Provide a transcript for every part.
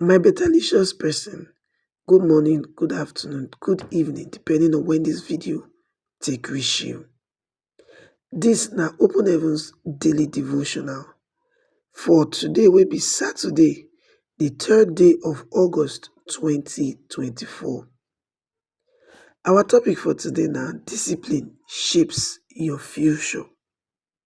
My betalicious person good morning, good afternoon, good evening depending on when this video take reach you. This na Open Heavens daily devotional for today wey be Saturday the third day of August 2024. Our topic for today na discipline shapes your future.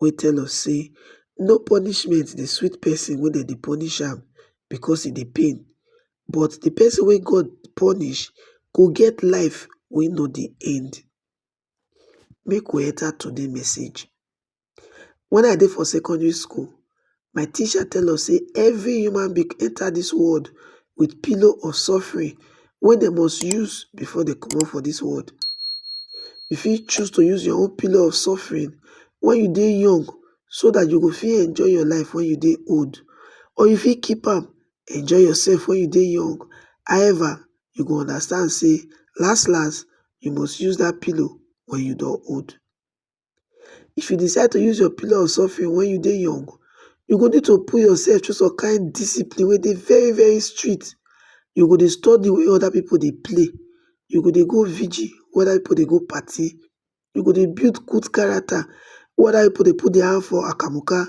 wey tell us say no punishment dey sweet person wey dem dey punish am because e dey pain but the person wey God punish go get life wey no dey end. Make we enter today message. When I dey for secondary school, My teacher tell us say every human being enter this world with pillow of suffering wey dem must use before dem comot for this world. You fit choose to use your own pillow of suffering when you dey young so that you go fit enjoy your life when you dey old or you fit keep am enjoy yourself when you dey young however you go understand say last last you must use that pillow when you don old. If you decide to use your pillow of suffering when you dey young, you go need to put yourself through some kind discipline wey dey very very strict. You go dey study wey other people dey play, you go dey go vigil wey other people dey go party, you go dey build good character wey other people dey put their hand for akamuka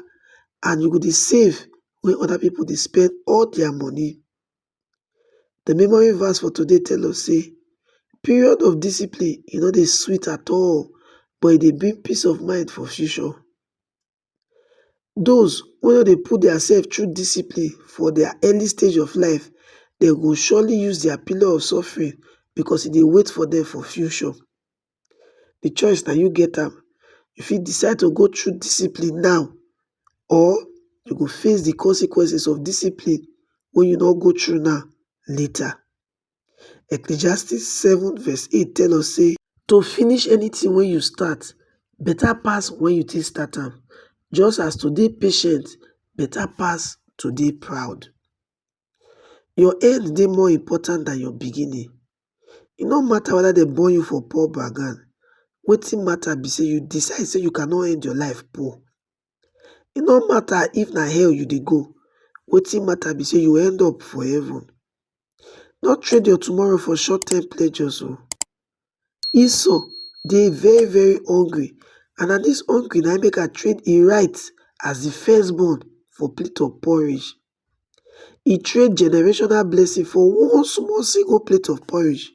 and you go dey save wey other people dey spend all their money. The memory verse for today tell us say period of discipline e no dey sweet at all but e dey bring peace of mind for future. Those wey no dey put theirself through discipline for their early stage of life dem go surely use their pillar of suffering because e dey wait for them for future. di choice na you get am, you fit decide to go through discipline now or you go face di consequences of discipline wey you no go through now later. Ecclesiastes seven verse eight tell us sey to finish anything wey you start better pass wen you take start am just as to dey patient better pass to dey proud. Your end dey more important than your beginning. E no matter whether dem born you for poor background, wetin matter be sey you decide sey you cannot end your life poor. E no matter if na hell you dey go, wetin matter be sey you end up for heaven. No trade your tomorrow for short term pleasures oo. Esau dey very very hungry and na dis hungry na im make am trade im right as de first born for plate of porridge. e trade generational blessing for one small single plate of porridge.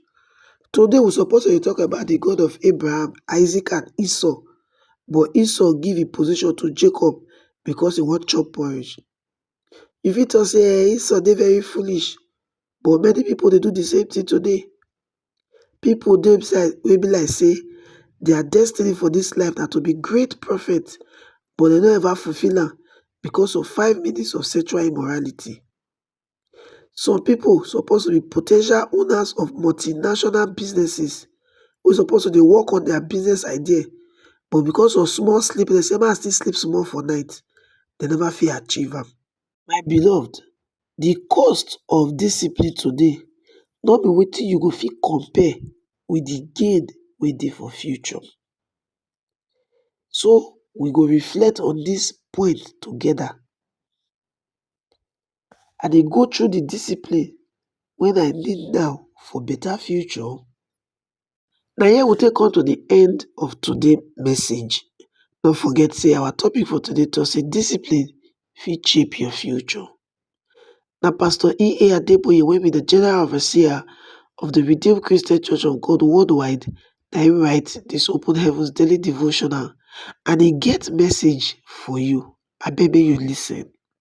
Today we suppose to dey talk about di God of Abraham, Isaac and Esau but Esau give im position to Jacob because e wan chop porridge. You fit talk sey Esau dey very foolish but many pipu dey do di same thing today. pipo dey beside wey be like say dia destiny for dis life na to be great prophets but dem no ever fulfil am becos of five minutes of sexual immorality. Some pipo suppose to be po ten tial owners of multinational businesses wey suppose to dey work on dia business idea but becos of small sleep, dem say make I still sleep small for night, dem neva fit achieve am. My beloved, di cost of discipline today no be wetin you go fit compare with di gain wey dey for future. So we go reflect on dis point togeda. I dey go through di discipline wey I need now for betta future? Na here we take come to the end of today message. No forget say our topic for today talk say discipline fit shape your future. Na Pastor E.A. Adeboye wey be the General Overseer of the Redeemed Christian Church of God worldwide na him write this Open Heavens Daily Devotional and e get message for you. Abeg make you listen.